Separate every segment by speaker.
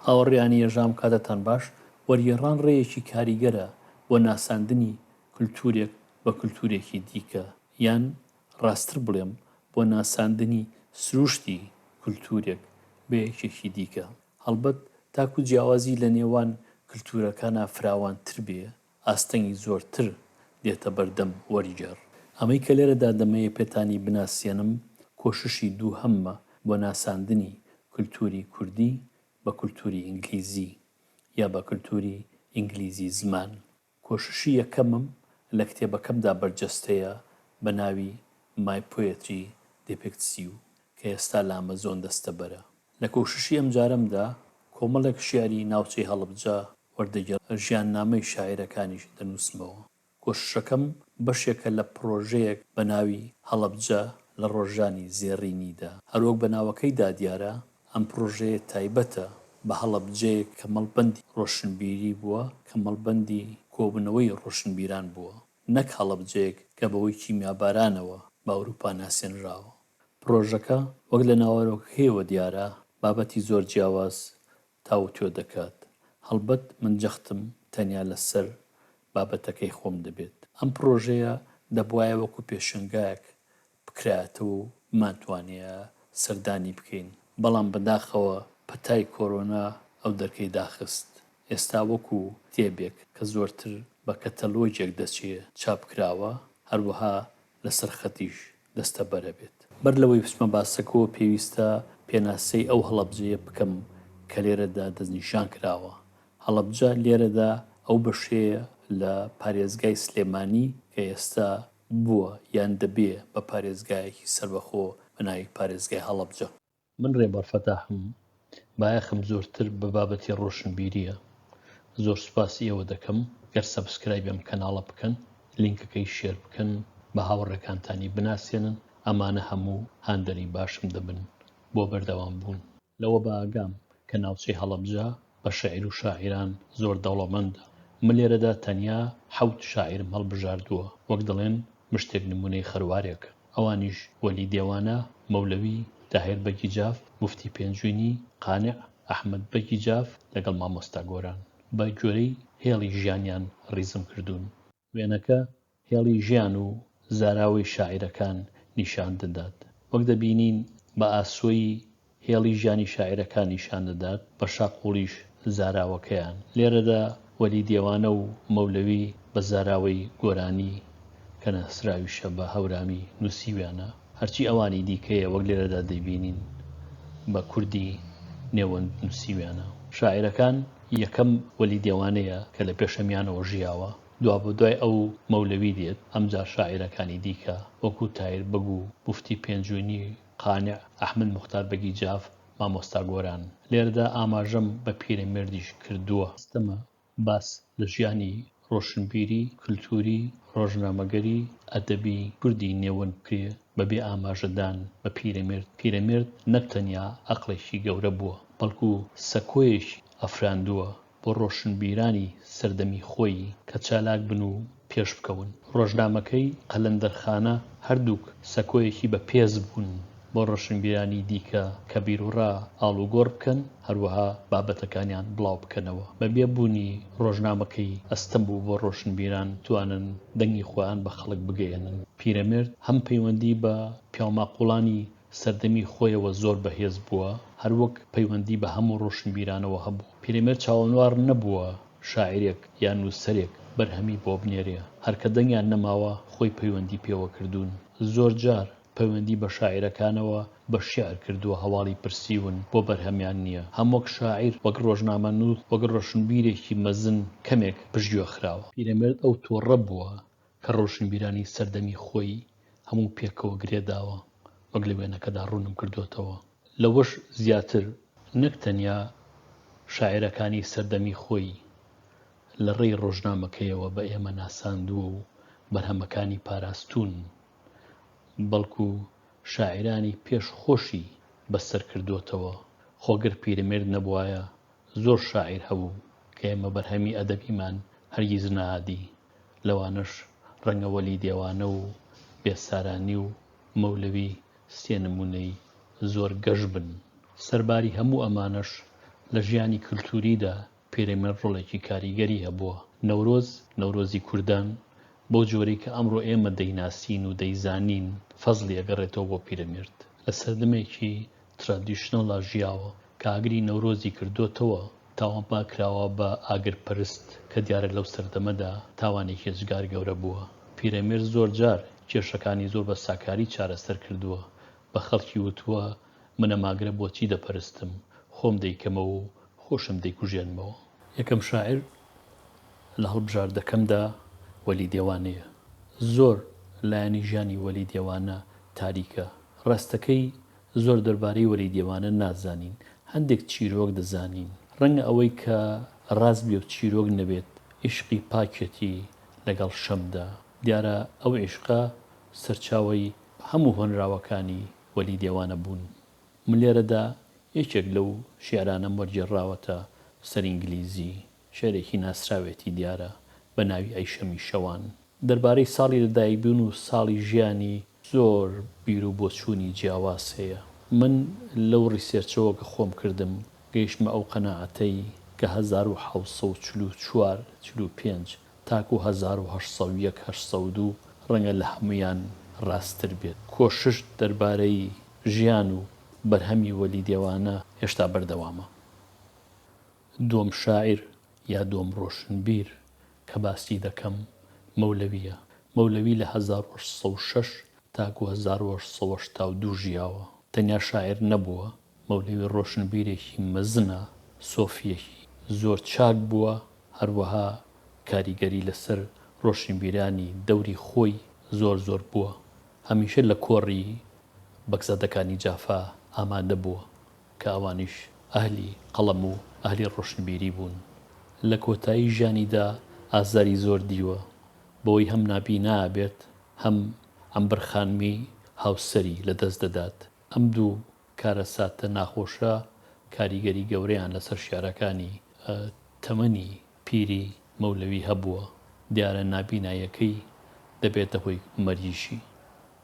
Speaker 1: هاوڕێیانی یەژام کاتتان باش، وەرگێڕان ڕێیەکی کاریگەرە بۆ ناساندنی کلتوورێک بە کلتوورێکی دیکە یان ڕاستتر بڵێم بۆ ناساندنی سرووشتی کلتوورێک بە یەکێکی دیکە. هەڵبەت تاکوو جیاوازی لە نێوان کلتوورەکانا فراوانتر بێ ئاستەنگی زۆرتر دێتە بەردەم وەرگێڕ. ئەمەی کە لێرەدا دەمەوێ پێتانی بناسێنم کۆششی دووهەممە بۆ ناساندنی کولتووری کوردی بە کولتووری ئینگلیزی یا بە کولتووری ئینگلیزی زمان. کۆششی یەکەمم لە کتێبەکەمدا بەرجەستەیە بە ناوی My Poetry Depicts You کە ئێستا لە ئەمەزۆن دەستەبەرە. لە کۆششی ئەمجارەمدا کۆمەڵێک شیعری ناوچەی هەڵبجە وەردەگێڕم، ژیاننامەی شاعیرەکانیش دەنووسمەوە. کۆششەکەم بەشێکە لە پڕۆژەیەک بە ناوی هەڵەبجە لە ڕۆژانی زێڕینیدا. هەروەک بە ناوەکەیدا دیارە، ئەم پڕۆژەیە تایبەتە بە هەڵەبجەیەک کە مەڵبەندی ڕۆشنبیری بووە، کە مەڵبەندی کۆبوونەوەی ڕۆشنبیران بووە. نەک هەڵەبجەیەک کە بەهۆی کیمیابارانەوە بە ئەوروپا ناسێنراوە. پڕۆژەکە وەک لە ناوەرۆکەکەیەوە دیارە بابەتی زۆر جیاواز تاووتوێ دەکات. هەڵبەت من جەختم تەنیا لەسەر بابەتەکەی خۆم دەبێت. ئەم پڕۆژەیە دەبوایە وەکو پێشەنگایەک بکرایەتەوە و بمانتوانیایە سەردانی بکەین، بەڵام بەداخەوە پەتای کۆرۆنا ئەو دەرکەی داخست. ئێستا وەکو کتێبێک کە زۆرتر بە کەتەلۆگێک دەچێ چاپکراوە، هەروەها لەسەر خەتیش دەستەبەرە بێت. بەر لەوەی بچمە باسەکەوە پێویستە پێناسەی ئەو هەڵەبجەیە بکەم کە لێرەدا دەستنیشان کراوە. هەڵەبجە لێرەدا ئەو بەشەیە لە پارێزگای سلێمانی کە ئێستا بووە یان دەبێ بە پارێزگایەکی سەربەخۆ بە ناوی پارێزگای هەڵەبجە. من رێبەر فەتاحم، بایەخم زۆرتر بە بابەتی رۆشنبیرییە. زۆر سوپاسی ئێوە دەکەم گەر سەبسکرایبی ئەم کەناڵە بکەن، لینکەکەی شێر بکەن، بە هاوڕێکانتانی بناسێنن، ئەمانە هەموو هاندەری باشم دەبن بۆ بەردەوامبوون. لەوە بە ئاگام کە ناوچەی هەڵەبجە بە شێعر و شاعیران زۆر دەوڵەمەندە. من لێرەدا تەنیا حەوت شاعیرم هەڵبژاردووە، وەک دەڵێن مشتێک نموونەی خەروارێک. ئەوانیش، وەلی دێوانە، مەولەوی، تاهێر بەگی جاف، موفتی پێنجوینی، قانع، ئەحمەد بەگی جاف، لەگەڵ مامۆستا گۆران. بە گوێرەی هێڵی ژیانیان ڕیزم کردوون. وێنەکە هێڵی ژیان و زاراوەی شاعیرەکان نیشان دەدات، وەک دەبینین بە ئاسۆیی هێڵی ژیانی شاعیرەکان نیشان دەدات، بە شاقوڵیش زاراوەکەیان. لێرەدا وەلی دێوانە و مەولەوی بە زاراوەی گۆرانی کە ناسراویشە بە هەورامی نووسیویانە، هەرچی ئەوانی دیکەیە وەک لێرەدا دەیبینین بە کوردی نێوەند نووسیویانە. شاعیرەکان یەکەم وەلی دێوانەیە کە لە پێشەمیانەوە ژیاوە، دوابەدوای ئەو مەولەوی دێت، ئەمجا شاعیرەکانی دیکە وەکوو تایر بەگ و موفتی پێنجوێنی، قانع، ئەحمەد موختار بەگی جاف، مامۆستا گۆران. لێرەدا ئاماژەم بە پیرەمێردیش کردووە. ئەستەمە باس لە ژیانی ڕۆشنبیری، کلتووری، ڕۆژنامەگەری، ئەدەبی کوردی نێوەند کرێ بە بێ ئاماژەدان بە پیرەمێرد، پیرەمێرد نەک تەنیا ئەقڵێکی گەورە بووە، بەڵکو سەکۆیەکی ئەفراندووە بۆ ڕۆشنبیرانی سەردەمی خۆی کە چالاک بن و پێش بکەون. ڕۆژنامەکەی قەلەندەرخانە هەردووک سەکۆیەکی بە پێز بوون. بۆ ڕۆشنبیرانی دیکە کە بیروڕا ئاڵوگۆڕ بکەن، هەروەها بابەتەکانیان بڵاوبکەنەوە. بەبێ بوونی ڕۆژنامەکەی ئەستەم بوو بۆ ڕۆشنبیران بتوانن دەنگی خۆیان بە خەڵک بگەیەنن. پیرەمێرد هەم پەیوەندی بە پیاوماقوڵانی سەردەمی خۆیەوە زۆر بەهێز بووە، هەروەک پەیوەندی بە هەموو ڕۆشنبیرانەوە هەبوو. پیرەمێرد چاوەنواڕ نەبووە شاعیرێک یا نووسەرێک بەرهەمی بۆ بنێرێ، هەر کە دەنگیان نەماوە خۆی پەیوەندی پێوە کردوون. زۆرجار پەیوەندی بە شاعیرەکانەوە بە شیعر کردووە هەواڵی پرسیون بۆ بەرهەمیان نییە هەم وەک شاعیر وەک ڕۆژنامەنووس وەک ڕۆشنبیرێکی مەزن کەمێک پشتگوێ خراوە. پیرەمێرد ئەو تۆڕە بووە کە ڕۆشنبیرانی سەردەمی خۆی هەموو پێکەوە گرێ داوە وەک لە وێنەکەدا ڕوونم کردۆتەوە لەوەش زیاتر نەک تەنیا شاعیرەکانی سەردەمی خۆی لە ڕێی ڕۆژنامەکەیەوە بە ئێمە ناساندووە و بەرهەمەکانی پاراستوون بەڵکو شاعیرانی پێش خۆشی بە سەر کردۆتەوە، خۆ گەر پیرەمێرد نەبوایە زۆر شاعیر هەبوو کە ئێمە بەرهەمی ئەدەبیمان هەرگیز نەئادی، لەوانەش ڕەنگە وەلی دێوانە و بێسارانی و مەولەوی سێ نموونەی زۆر گەش بن. سەرباری هەموو ئەمانەش لە ژیانی کلتووریدا پیرەمێرد ڕۆڵێکی کاریگەری هەبووە. نەورۆز، نەورۆزی کوردان، بەو جۆرەی کە ئەمڕۆ ئێمە دەیناسین و دەیزانین، فەزڵی ئەگەڕێتەوە بۆ پیرەمێرد. لە سەردەمێکی ترادیشنەڵا ژیاوە کە ئاگری نەورۆزی کردۆتەوە تاوانبارکراوە بە ئاگرپەرست کە دیارە لەو سەردەمەدا تاوانێکی ئێجگار گەورە بووە. پیرەمێرد زۆرجار کێشەکانی زۆر بە ساکاری چارەسەر کردووە، بە خەڵکی وتووە من ئەم ئاگرە بۆچی دەپەرستم، خۆم دەیکەمەوە و خۆشم دەیکوژێنمەوە. یەکەم شاعیر لە هەڵبژاردەکەمدا وەلی دێوانەیە. زۆر لایەنی ژیانی وەلی دێوانە تاریکە. ڕاستەکەی زۆر دەربارەی وەلی دێوانە نازانین. هەندێک چیرۆک دەزانین. ڕەنگە ئەوەی کە ڕاست بێ و چیرۆک نەبێت عیشقی پاکیەتی لەگەڵ شەمدا. دیارە ئەو عیشقە سەرچاوەی هەموو هۆنراوەکانی وەلی دێوانە بوون م لێرەدا یەکێک لەو شیعرانەم وەرگێڕراوەتە سەر ئینگلیزی، شیعرێکی ناسراوێتی دیارە بە ناوی ئەی شەمی شەوان. دەربارەی ساڵی لە دایک بوون و ساڵی ژیانی زۆر بیر و بۆچوونی جیاواز هەیە. من لەو ڕیسێرچەوە کە خۆم کردم گەیشتمە ئەو قەناعەتەی کە هەزار و حەوت سەد و چل و چوار، چل و پێنج تاکو هەزار و هەشت سەد و یەک هەشت سەد و دوو ڕەنگە لە هەموویان ڕاستتر بێت. کۆشش دەربارەی ژیان و بەرهەمی وەلی دێوانە هێشتا بەردەوامە. دووەم شاعیر یا دووەم ڕۆشنبیر کە باسی دەکەم مەولەوییە. مەولەوی لە هەزار و هەشت سەد و شەش تاکو هەزار و هەشت سەد و هەشتا و دوو ژیاوە. تەنیا شاعیر نەبووە، مەولەوی ڕۆشنبیرێکی مەزنە، سۆفییەکی زۆر چاک بووە، هەروەها کاریگەری لەسەر ڕۆشنبیرانی دەوری خۆی زۆر زۆر بووە، هەمیشە لە کۆڕی بەگزادەکانی جافا ئامادە بووە، کە ئەوانیش ئەهلی قەڵەم و ئەهلی ڕۆشنبیری بوون. لە کۆتایی ژیانیدا ئازاری زۆر دیوە، بەوەی هەم نابینا ئەبێت، هەم عەمبەر خانمی هاوسەری لەدەست دەدات. ئەم دوو کارەساتە ناخۆشە کاریگەری گەورەیان لەسەر شیعرەکانی تەمەنی پیری مەولەوی هەبووە، دیارە نابیناییەکەی دەبێتە هۆی مەرگیشی.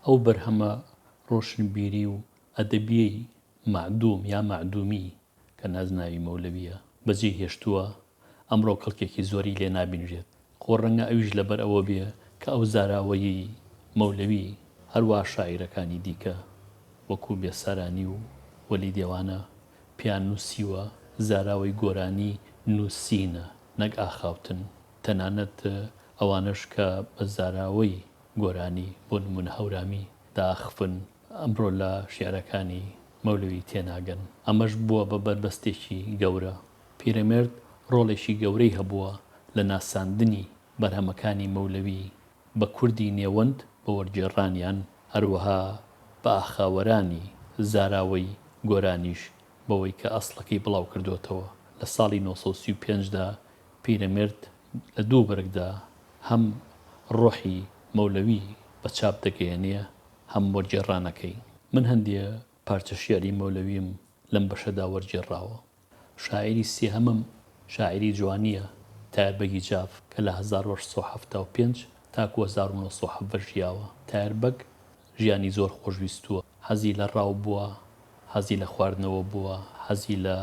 Speaker 1: ئەو بەرهەمە ڕۆشنبیری و ئەدەبییەی مەعدووم یا مەعدوومی کە نازناوی مەولەوییە، بەجێی هێشتووە، ئەمڕۆ کەڵکێکی زۆری لێ نابینرێت. خۆ ڕەنگە ئەویش لەبەر ئەوە بێ کە ئەو زاراوەیی، مەولەوی، هەروا شاعیرەکانی دیکە، وەکوو بێسارانی و وەلی دێوانە، پێیان نووسیوە، زاراوەی گۆرانی نووسینە، نەک ئاخاوتن. تەنانەت ئەوانەش کە بە زاراوەی گۆرانی، بۆ نموونە هەورامی، داخفن، ئەمڕۆ لە شیعرەکانی مەولەوی تێناگەن. ئەمەش بووە بە بەربەستێکی گەورە. پیرەمێرد ڕۆڵێکی گەورەی هەبووە لە ناساندنی بەرهەمەکانی مەولەوی بە کوردی نێوەند بە وەرگێڕانیان، هەروەها بە ئاخاوەرانی زاراوەی گۆرانیش بەوەی کە ئەسڵەکەی بڵاوکردۆتەوە. لە ساڵی نۆ سەد و سی و پێنج دا پیرەمێرد لە دوو بەرگدا هەم ڕۆحی مەولەوی بە چاپ دەگەیەنێ، هەم وەرگێڕانەکەی. من هەندێ پارچە شیعری مەولەویم لەم بەشەدا وەرگێڕاوە. شاعیری سێهەمم شاعیری جوانییە تایەر بەگی جاف کە لە هەزار و هەشت سەد و حەفتا و پێنج تاکوو هەزار و نۆ سەد و حەڤدە ژیاوە. تایەر بەگ ژیانی زۆر خۆش ویستووە. حەزی لە ڕاو بووە، حەزی لە خواردنەوە بووە، حەزی لە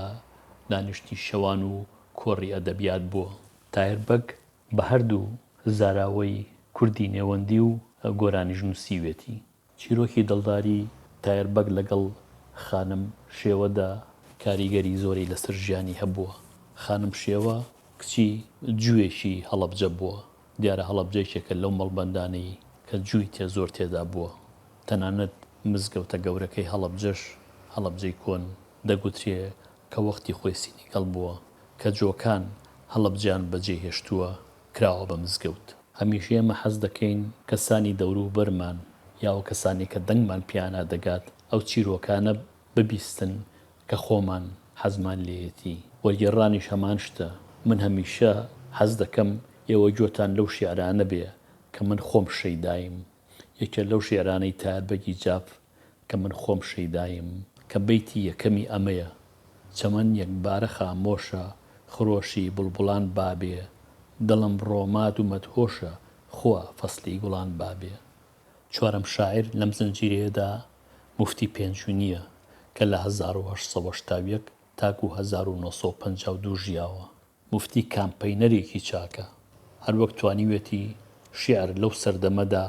Speaker 1: دانیشتنی شەوان و کۆڕی ئەدەبیات بووە. تایەر بەگ بە هەردوو زاراوەی کوردی نێوەندی و گۆرانیش نووسیوێتی. چیرۆکی دڵداری تایەر بەگ لەگەڵ خانم شێوەدا کاریگەری زۆری لەسەر ژیانی هەبووە. خانم شێوە کچی جووێکی هەڵەبجە بووە. دیارە هەڵەبجە یەکێکە لەو مەڵبەندانەی کە جووی تێ زۆر تێدا بووە. تەنانەت مزگەوتە گەورەکەی هەڵەبجەش، هەڵەبجەی کۆن، دەگوترێ کە وەختی خۆی سینیگەڵ بووە. کە جۆکان هەڵەبجەیان بەجێ هێشتووە کراوە بە مزگەوت. هەمیشە ئێمە حەز دەکەین کەسانی دەوروبەرمان یاوە کەسانێک کە دەنگمان پێیانا دەگات ئەو چیرۆکانە ببیستن کە خۆمان حەزمان لێیەتی. وەرگێڕانیش هەمان شتە، من هەمیشە حەز دەکەم ئێوە گوێتان لەو شیعرانە بێ کە من خۆم شەیدایم. یەکێ لەو شیعرانەی تایەر بەگی جاف کە من خۆم شەیدایم، کە بەیتی یەکەمی ئەمەیە، چەمەن یەکبارە خامۆشە، خرۆشی بوڵبوڵان بابێ، دڵم ڕۆمات و مەدهۆشە، خوا فەسلی گوڵان بابێ. چوارەم شاعیر لەم زنجیرەیەدا موفتی پێنجوینییە کە لە هەزار و هەشت سەد و هەشتا و یەک تاکوو هەزار و نۆ سەد و پەنجا و دوو ژیاوە. موفتی کامپەینەرێکی چاکە، هەروەک توانیوێتی شیعر لەو سەردەمەدا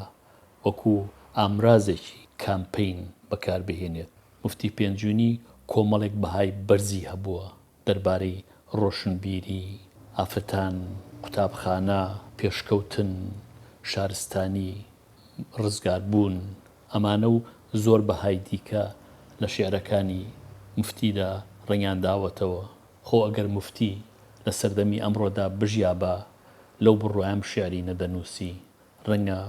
Speaker 1: وەکو ئامرازێکی کامپەین بەکاربهێنێت. موفتی پێنجوینی کۆمەڵێک بەهای بەرزی هەبووە دەربارەی ڕۆشنبیری، ئافرەتان، قوتابخانە، پێشکەوتن، شارستانی، ڕزگاربوون، ئەمانە و زۆر بەهای دیکە لە شیعرەکانی موفتیدا ڕەنگیانداوەتەوە. خۆ ئەگەر موفتی لە سەردەمی ئەمڕۆدا بژیابا لەو بڕوایەم شیعری نەدەنووسی، ڕەنگە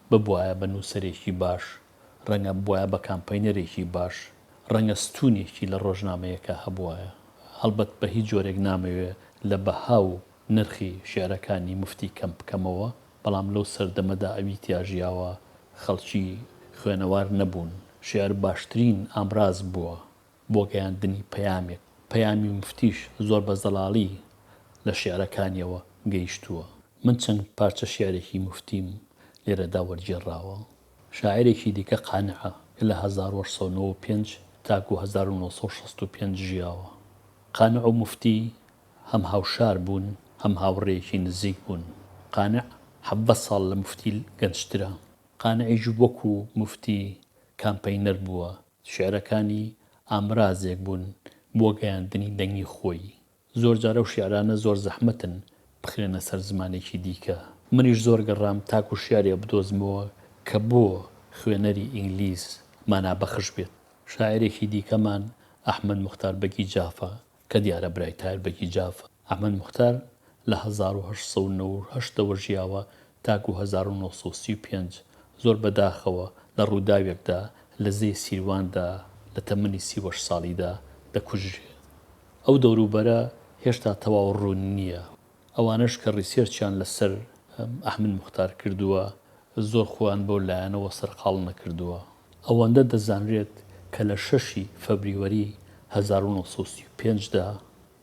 Speaker 1: ببوایە بە نووسەرێکی باش، ڕەنگە ببوایە بە کامپەینەرێکی باش، ڕەنگە ستوونێکی لە ڕۆژنامەیەکا هەبوایە. هەڵبەت بە هیچ جۆرێک نامەوێ لە بەها و نرخی شیعرەکانی موفتی کەم بکەمەوە، بەڵام لەو سەردەمەدا ئەوی تیا ژیاوە خەڵکی خوێنەوار نەبوون، شیعر باشترین ئامراز بووە بۆ گەیاندنی پەیامێک، پەیامی موفتیش زۆر بە زەڵاڵی لە شیعرەکانییەوە گەیشتووە. من چەند پارچە شیعرێکی موفتیم لێرەدا وەرگێڕاوە. شاعیرێکی دیکە قانعە کە لە هەزار و هەشت سەد و نەوە و پێنج تاکوو هەزار و نۆ سەد و شەست و پێنج ژیاوە. قانع و موفتی هەم هاوشار بوون، هەم هاوڕێیەکی نزیک بوون. قانع حەڤدە ساڵ لە موفتی گەنجترە. قانعیش وەکوو موفتی کامپەینەر بووە، شیعرەکانی ئامرازێک بوون بۆ گەیاندنی دەنگی خۆی. زۆر جار ئەو شیعرانە زۆر زەحمەتن بخرێنە سەر زمانێکی دیکە. منیش زۆر گەڕام تاکو شیعرێ بدۆزمەوە کە بۆ خوێنەری ئینگلیز مانابەخش بێت. شاعیرێکی دیکەمان ئەحمەد موختار بەگی جافە کە دیارە برای تایر بەگی جافە. ئەحمەد موختار لە هەزار و هەشت سەد و نەوەد و هەشت ەوە ژیاوە تاکو هەزار و نۆ سەد و سی و پێنج، زۆر بە داخەوە لە ڕووداوێکدا لە زێی سیرواندا لە تەمەنی سی و هەشت ساڵیدا دەکوژرێت. ئەو دەوروبەرە هێشتا تەواو ڕوون نییە. ئەوانەش کە ڕیسێرچیان لە سەر ئەحمد موختار کردووە زۆر خۆیان بەو لایەنەوە سەرقاڵ نەکردووە. ئەوەندە دەزانرێت کە لە شەشی فەبریوەری هەزار و نۆ سەد و سی و پێنج دا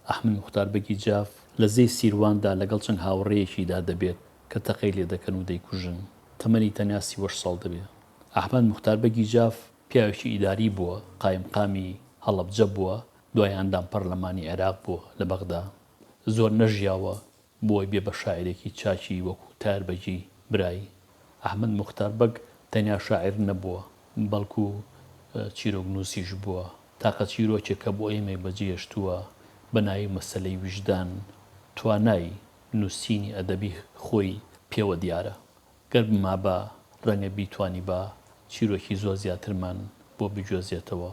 Speaker 1: ئەحمد موختار بەگی جاف لە زێی سیروان دا لەگەڵ چەند هاوڕێیەکی دا دەبێت کە تەقەی لێ دەکەن و دەیکوژن تەمەنی تەنیا سی و هەشت ساڵ دەبێت. ئەحمد موختار بەگی جاف پیاوێکی ئیداری بووە، قایمقامی هەڵەبجە بووە، دوای ئەندام پەرلەمانی عێراق بووە لە بەغدا. زۆر نەژیاوە بۆی بێ بە شاعیرێکی چاکی وەکوو تار بەگی برای. ئەحمەد موختار بەگ تەنیا شاعیر نەبووە، بەڵکوو چیرۆکنووسیش بووە. تاقە چیرۆکێک کە بۆ ئێمەی بە جێهێشتووە بە ناوی مەسەلەی ویژدان، توانای نووسینی ئەدەبی خۆی پێوە دیارە. گەر بمابا، ڕەنگە بیتوانیبا چیرۆکی زۆر زیاترمان بۆ بگوێزێتەوە.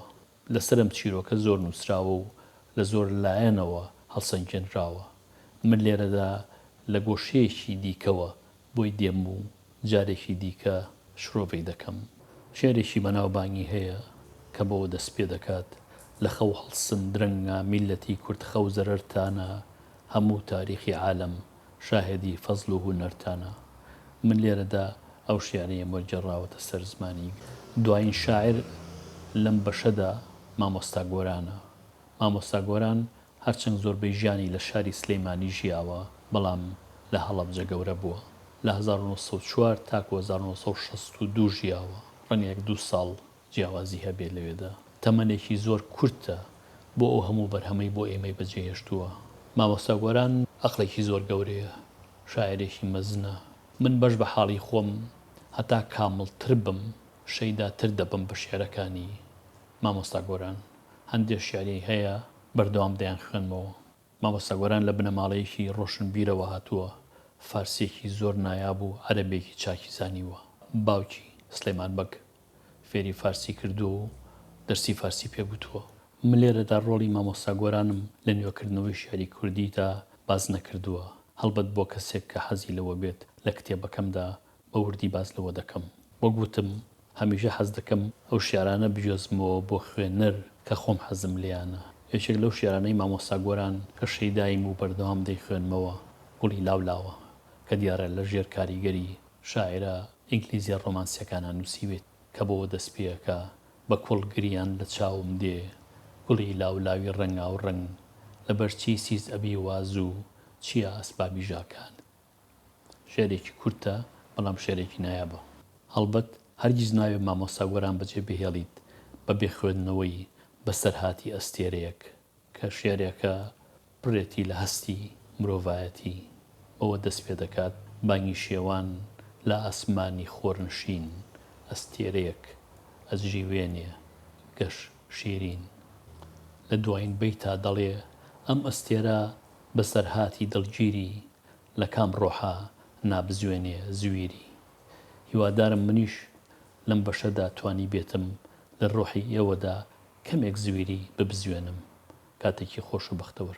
Speaker 1: لەسەر ئەم چیرۆکە زۆر نووسراوە و لە زۆر لایەنەوە هەڵسەنگێنراوە، من لێرەدا لە گۆشەیەکی دیکەوە بۆی دێم و جارێکی دیکە شرۆڤەی دەکەم. شیعرێکی بەناوبانگی هەیە کە بەوە دەست پێ دەکات، لە خەو هەڵسن درەنگە میللەتی کورد خەو زەرەرتانە هەموو تاریخی عالەم شاهێدی فەزڵ و هونەرتانە. من لێرەدا ئەو شیعرەیەم وەرگێڕاوەتە سەر زمانی گەل. دوایین شاعیر لەم بەشەدا مامۆستا گۆرانە. مامۆستا گۆران هەرچەند زۆربەی ژیانی لە شاری سلێمانی ژیاوە، بەڵام لە هەڵەبجە گەورە بووە. لە هەزار و نۆ سەد و چوار تاکوو هەزار و نۆ سەد و شەست و دوو ژیاوە. ڕەنگە یەک دوو ساڵ جیاوازی هەبێت لەوێدا تەمەنێکی زۆر کورتە بۆ ئەو هەموو بەرهەمەی بۆ ئێمەی بەجێ هێشتووە مامۆستا گۆران ئەقڵێکی زۆر گەورەیە شاعیرێکی مەزنە من بەش بە حاڵی خۆم هەتا کامڵ تر بم شەیدا تر دەبم بە شیعرەکانی مامۆستا گۆران هەندێ شیعری هەیە بەردەوام دەیان خوێنمەوە مامۆستا گۆران لە بنەماڵەیەکی ڕۆشنبیرەوە هاتووە فارسیەکی زۆر نایاب و عەرەبێکی چاکی زانیوە باوکی سلێمان بەگ. فێری فارسی کردووە و دەرسی فارسی پێ گوتووە. من لێرەدا ڕۆڵی مامۆستا گۆرانم لە نوێکردنەوەی شیعری کوردیدا باس نەکردووە، هەڵبەت بۆ کەسێک کە حەزی لەوە بێت لە کتێبەکەمدا بە وردی باس لەوە دەکەم. وەک وتم هەمیشە حەز دەکەم ئەو شیعرانە بگوێزمەوە بۆ خوێنەر کە خۆم حەزم لێیانە. یەکێک لەو شیعرانەی مامۆستا گۆران کە شەیداییم و بەردەوام دەیخوێنمەوە، گوڵی لاولاوە، کە دیارە لە ژێر کاریگەری شاعیرە ئینگلیزیە ڕۆمانسیەکانە نوسیوێت کە بۆوە دەست پێەکا بە کوڵ گریان لە چاوم دێ گوڵی لاو لاوی ڕەنگاو ڕەنگ لە بەر چی سیس ئەبی وا زوو چیە ئەسبابی ژاکان شعرێکی کورتە بەڵام شعرێکی نایابە هەڵبەت هەرگیز نایێ مامۆستا گۆران بەجێ بهێڵیت بە بێ خوێندنەوەی بەسەرهاتی ئەستێرەیەک. کە شیعرێکە بڕێکی لە هەستی مرۆڤایەتی بەوە دەست پێ دەکات، بانگی شێوان لە ئاسمانی خۆرنشین، ئەستێرەیەک ئەجریوێنێ گەش شیرین. لە دوایین بەیتا دەڵێ، ئەم ئەستێرە بەسەرهاتی دڵگیری، لە کام ڕۆحا نابزوێنێ زویری. هیوادارم منیش لەم بەشەدا توانیبێتم لە ڕۆحی ئێوەدا کەمێک زویری ببزوێنم کاتێکی خۆشە بەختەوەر.